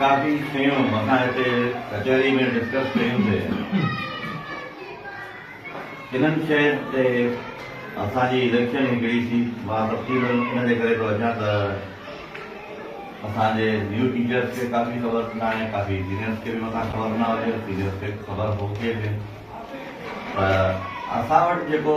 ڪافي شيون اسان هتي ڪچهري ۾ ڊسڪس ڪيون سي انهن شين تي اسان جي اليڪشن هڪڙي سي مان تفصيل ان جي ڪري ٿو اچان ته اسان جي نيو ٽيچرس کي ڪافي خبر نه آهي ڪافي سينيئرس کي به مٿان خبر نه هجي سينيئرس کي خبر هجي به ته اسان وٽ جيڪو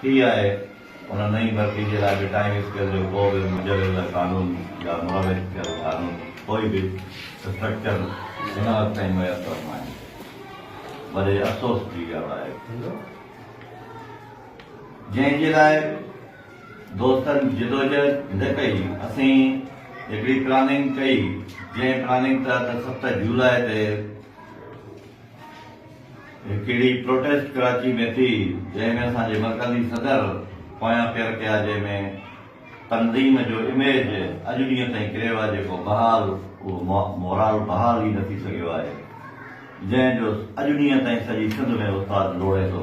ٿي آهي، ان نئين ڀرتي جي لاء به ٽائيم اسڪيل جو ڪو به مجوزه قانون يا مروج ٿيل قانون ڪوئي به اسٽرڪچر هن وقت تائين ميسر ناهي. وڏي افسوس جي ڳالهه آهي. جنهن جي لاء دوستن جدوجهد نه ڪئي. اسين هڪڙي پلاننگ ڪئي، جنهن پلاننگ تحت ست جولاء تي. هڪ اهڙي پروٽيسٽ ڪراچي ۾ ٿي جنهن ۾ اسان جي مرڪزي صدر پويان پير ڪيا جنهن ۾ تنظيم جو اميج اڄ ڏينهن تائين ڪريو آهي جيڪو بحال اهو مورال بحال ئي نه ٿي سگهيو آهي جنهن جو اڄ ڏينهن تائين سڄي سنڌ ۾ استاد لوڙي ٿو.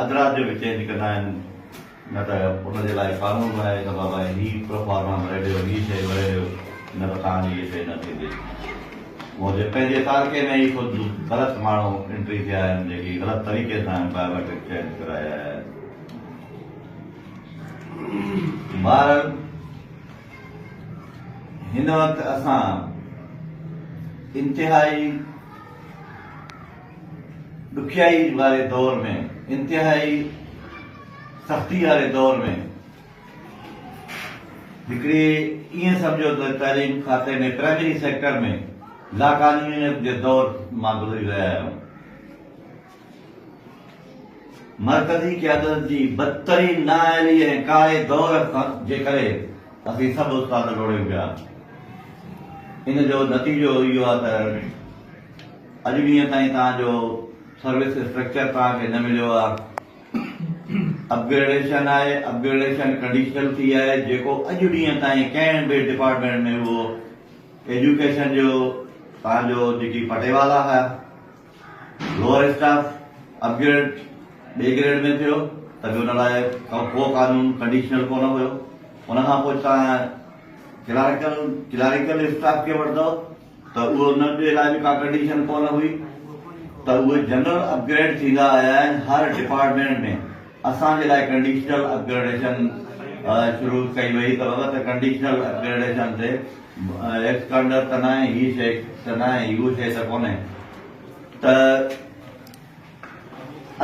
ادرار جو به چينج ڪندا آهن نه ته ان جي لاء قانون به آهي ته بابا هي پروفارما ڀري ڏيو هي شيء ڀري ڏيو نه ته توهان جي هي شيء نه ٿيندي منهنجي پنهنجي تعلقي ۾ ئي خود غلط ماڻهو انٽري ٿيا آهن جيڪي غلط طريقي سان بائيوميٽرڪ چينج ڪرائي آيا آهن بهرحال هن وقت اسان انتهائي ڏکيائي واري دور ۾ انتهائي سختي واري دور ۾ هڪڙي ائين سمجهو ته تعليم کاتي ۾ پرائمري سيڪٽر ۾ لاقانونيت جي دور مان گذري رهيا آهيون مرڪزي قيادت جي بدترين نااهلي ۽ ڪاري دور جي ڪري اسين سڀ استاد لوڙيون پيا ان جو نتيجو اهو آهي ته اڄ ڏينهن تائين توهان جو سروس اسٽرڪچر توهان کي نه مليو آ اپ گريڊيشن آهي اپ گريڊيشن ڪنڊيشنل ٿي آهي جيڪو اڄ ڏينهن تائين ڪنهن به ڊپارٽمينٽ ۾ هو ايجوڪيشن جو توهان جو جيڪي پٽيوالا هيا لوور اسٽاف اپ گريڊ ٻي گريڊ ۾ ٿيو ته به ان لاء ڪو قانون ڪنڊيشنل ڪونه هيو ان کان پوء توهان ڪلارڪل ڪلاريڪل اسٽاف کي وٺندو ته اهو ان جي لاء به ڪا ڪنڊيشن ڪونه هئي ته اهي جنرل اپ گريڊ ٿيندا آيا آهن هر ڊپارٽمينٽ ۾ اسان جي لاء ڪنڊيشنل اپ گريڊيشن شروع ڪئي وئي ته بابا ته ڪنڊيشنل اپ گريڊيشن تي ايڪسڪانڊر ته ناهي هي شي ته ناهي هو شي ته ڪونهي ته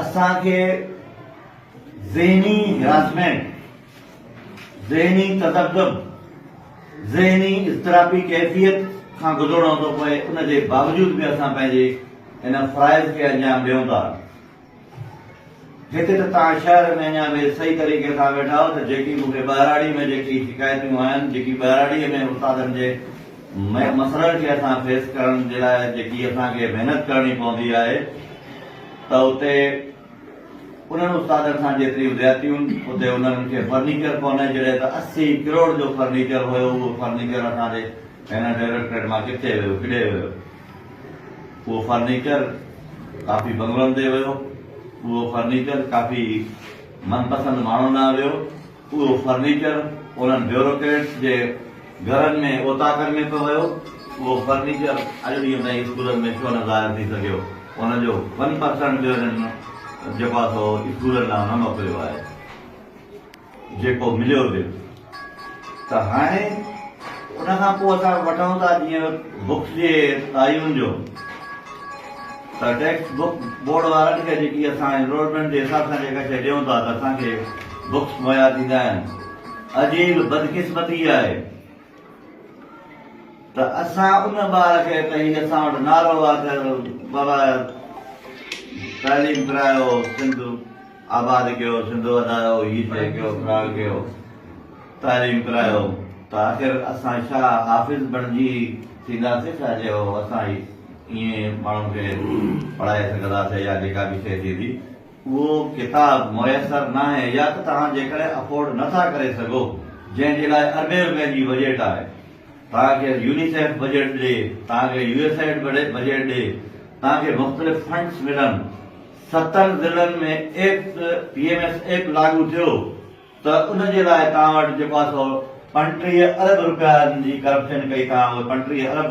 اسان کي ذهني هراسمينٽ ذهني تذبذب، ذهني اضطرابي ڪيفيت، کان گذرڻو ٿو پوي ان جي باوجود به اسان پنهنجي ان فرائض کي انجام ڏيون ٿا. هتي ته توهان شهر ۾ اڃا به صحيح طريقي سان ويٺا آهيو ته جيڪي مون کي ٻهراڙي ۾ جيڪي شڪايتون آيون، جيڪي ٻهراڙي ۾ استادن جي مسئلن کي اسان فيس ڪرڻ جي لاء جيڪي اسان کي محنت ڪرڻي پوندي آهي ته اتي انهن استادن سان جيتريون زيادتيون اتي انهن کي فرنيچر ڪونهي جڏهن ته اسي ڪروڙ جو فرنيچر هيو اهو فرنيچر اسان جي هن ڊائريڪٽريٽ مان ڪٿي ويو ڪيڏي ويو اهو فرنيچر ڪافي بنگلن تي ويو اهو فرنيچر ڪافي من پسند ماڻهن ڏانهن ويو. اهو فرنيچر انهن بيوروڪريٽس جي گهرن ۾ اوطاقن ۾ پيو ويو. اهو فرنيچر اڄ ڏينهن تائين اسڪولن ۾ ڇو نه ظاهر ٿي سگهيو. ان جو ون پرسنٽ به انهن جيڪو آهي سو اسڪولن ڏانهن نه موڪليو آهي. جيڪو مليو به ته هاڻي ان کان پوء اسان وٺون ٿا جيئن بڪس جي تعين جو. ته ٽيڪسٽ بڪ بورڊ وارن کي جيڪي اسان انرولمينٽ جي حساب سان جيڪا شيء ڏيون ٿا ته اسان کي بڪس مهيا ٿيندا آهن عجيب بدقسمتي اها آهي ته اسان ان ٻار کي ته هي اسان وٽ نعرو آهي ته بابا تعليم ڪرايو سنڌ آباد ڪيو، سنڌ وڌايو، هي شيء ڪيو، فلاڻ ڪيو، تعليم ڪرايو ته آخر اسان ڇا حافظ بڻجي ٿينداسين ڇا جو اسان ائين ماڻهن کي پڙهائي سگهنداسين يا جيڪا به شيء ٿيندي اهو ڪتاب ميسر ناهي يا ته توهان جيڪڏهن افورڊ نه ٿا ڪري سگهو جنهن جي لاء اربين رپين جي بجيٽ آهي توهان کي يونيسيف بجيٽ ڏي توهان کي يو ايس ايڊ بجيٽ ڏي توهان کي مختلف فنڊس ملن ستن ضلعن ۾ act, P M S act, لاڳو ٿيو ته ان جي لاء توهان وٽ جيڪو آسو پنٽيهه ارب روپين جي ڪرپشن ڪئي توهان اهي پنٽيهه ارب.